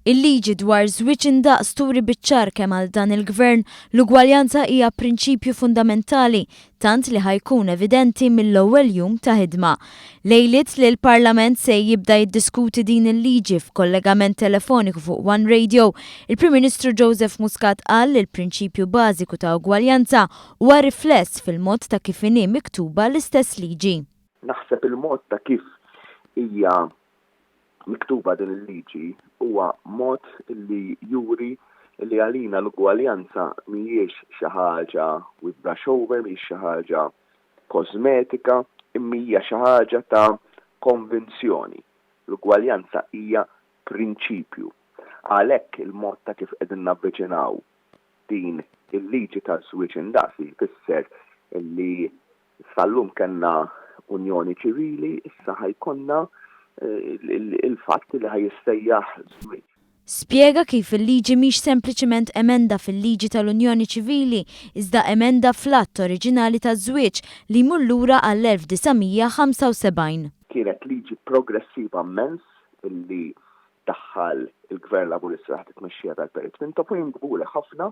Il-liġi dwar żwieġ indaqs turi biċ-ċar kemm għal dan il-Gvern l-ugwaljanza hija prinċipju fundamentali tant li ħa jkun evidenti mill-ewwel jum ta' ħidma. Lejliet li l-Parlament se jibda jiddiskuti din il-liġi f'kollegament telefoniku fuq One Radio, il-Prim Ministru Joseph Muscat qal li l-prinċipju bażiku ta' ugwaljanza huwa rifless fil-mod ta' kif inhi miktuba l-istess liġi. Naħseb il-mod ta' kif hija miktuba din il-liġi huwa mod li juri li għalina l-ugwaljanza mhijiex xi ħaġa we brush over, mhijiex xi ħaġa kożmetika, imma hija xi ħaġa ta' konvinzjoni. L-ugwaljanza hija prinċipju. Għalhekk il-mod ta' kif qegħdin navviċinaw din il-liġi taż-żwieġ indaqs jfisser li Sal-lum kellna unjoni ċivili, issa ħa jkollna il-fatt li ħa jissejjaħ żwieġ. Spjega kif il-liġi mhix sempliċiment emenda fil-liġi tal-unjoni ċivili iżda emenda fl-att oriġinali taż-żwieġ li jmur lura għall-1975. Kienet liġi progressiva mmens li daħħal il-Gvern Laburista taħt it-tmexxija tal-Perit Mintoff u jien kburi ħafna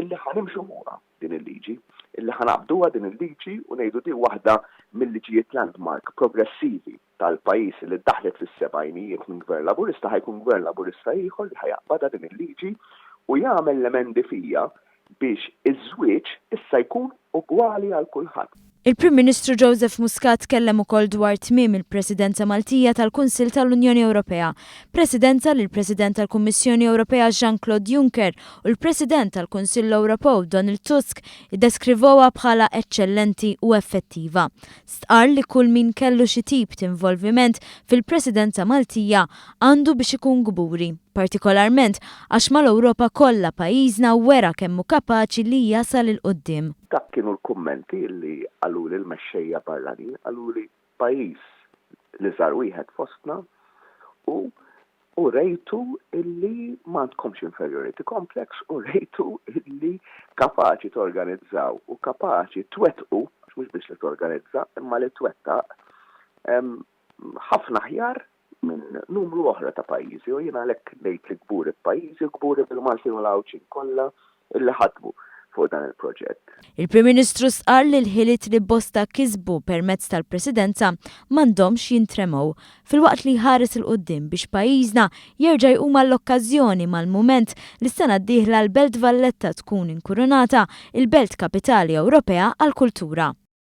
li ħa nimxu fuqha. din il-liġi. Illi ħa ngħaqqduha din il-liġi u ngħidu din waħda mil-liġijiet landmark progressivi tal-pajjiż illi ddaħħlet fis-sebgħinijiet minn Gvern Laburista ħa jkun Gvern Laburista ieħor li ħa jaqbadha din il-liġi u jagħmel l-emendi fiha biex iż-żwieġ issa jkun ugwali għal kulħadd. Il-Prim Ministru Joseph Muscat tkellem ukoll dwar tmiem il-Presidenza Maltija tal-Kunsill tal-Unjoni Ewropea, Presidenza li l-President tal-Kummissjoni Ewropea Jean-Claude Juncker u l-President tal-Kunsill Ewropew Donald Tusk iddeskrivewha bħala eċċellenti u effettiva. Stqarr li kull min kellu xi tip t'involviment fil-Presidenza Maltija għandu biex ikun kburi, partikolarment għax mal-Ewropa kollha pajjiżna wera kemm hu kapaċi li jasal 'il quddiem. Dak kienu l-kummenti li qaluli l-mexxejja barranin, qaluli pajjiż l-iżgħar wieħed fostna u urejtu li m'għandkomx inferiority complex, urejtu li kapaċi torganizzaw u kapaċi twettqu, għax mhux biss li torganizza imma li twettaq, ħafna aħjar minn numru oħra ta' pajjiżi u jien għalhekk ngħid li kburi b'pajjiżi u kburi bil-Maltin u l-Għawdxin kollha illi ħadmu fuq dan il-proġett. Il-Prim Ministru stqarr li l-ħiliet li bosta kisbu permezz tal-Presidenza m'għandhomx jintremgħu, filwaqt li jħares 'il quddiem biex pajjiżna jerġa' jqum għall-okkażjoni mal-mument li s-sena d-dieħla l-Belt Valletta tkun inkurunata il-Belt Kapitali Ewropea għall-Kultura.